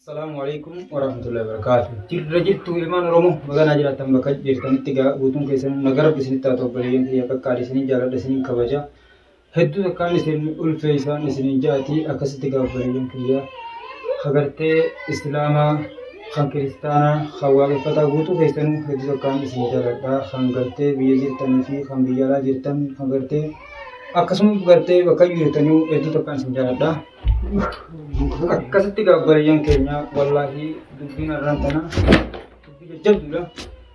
Assalamu alaikum warahmatullahi wabarakatuh. Jirra jirtu ilmaan Oromoo magaalaa jiraattan bakka jirtanitti gaa guutuun keessan nagaa rabbi isinitti haa ta'u bareedeen kiyya qaqqaali isiniin jaaladha isiniin kabaja. Hedduu takkaan isin ulfeeysaan isinin ja'ati akkasitti gaa obboleeyyan kiyya ka gartee islaamaa kan kiristaanaa kan waaqeffataa guutuu keessanuu hedduu takkaan isin jaladha kan gartee biyya jirtanii fi kan biyya alaa jirtan kan gartee akkasuma gartee bakka jirtanuu hedduu takkaan isin jaladha akkasitti gaa obboleeyyan keenya wallaahi dubbiin arraan tana dubbii jajjabduudha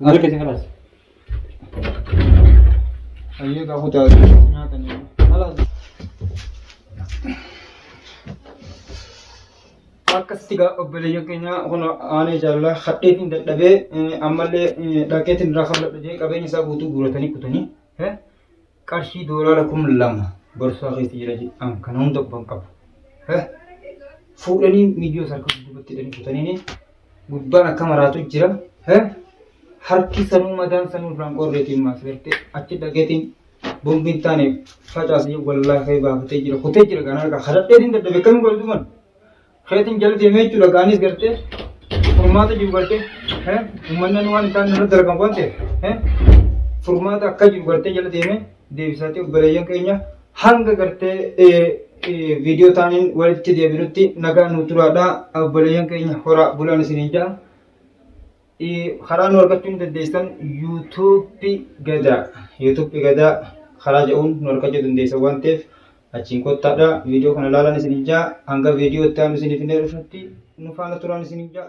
Maal keessa kalaas? Hayyee kaa kutaa nyaatanii. Kalaas. Akkasitti gaa obboleeyyan keenya kun aanee jaalalaa hadheetiin dadhabee ammallee dhaqeetiin irraa kan dadhabee qabeenya isaa guutuu guuratanii kutanii. Qarshii doolaara kum lama borsaa keessa jira jedhaan kana hunda quban qabu. Eh, Fuudhanii miyyoo sarka duubatti hidhanii kutaniini gubbaan akka maraatu jira. Eh, Harki sanuu madaan sanuu irraan qorreetiin maas gartee achi dhageetiin bombiin taane facaasee wallaahi baafatee jira kutee jira kan harkaa kadhadheetiin dadhabe kamiin godhe duman. Keetiin jala deemee jechuudha gaanis gartee furmaata jiru gartee uummannan waan isaan irratti argamu waan ta'eef furmaata akka jiru gartee jala deemee deebisaatee obboleeyyan keenya hanga gartee viidiyoo taaniin walitti deebinutti nagaa nu turaadha obboleeyyan keenya horaa bulaan isiniin ja'a. karaa nu argachuu ni dandeessan yuutuubbi gadaa yuutuubbi gadaa karaa jedhuun nu argachuu dandeessan waan ta'eef achiin kottaadha viidiyoo kana ilaalan isin ijaa hanga viidiyoo itti aanu isiniif hin dhufutti nu faana turan isin ijaa.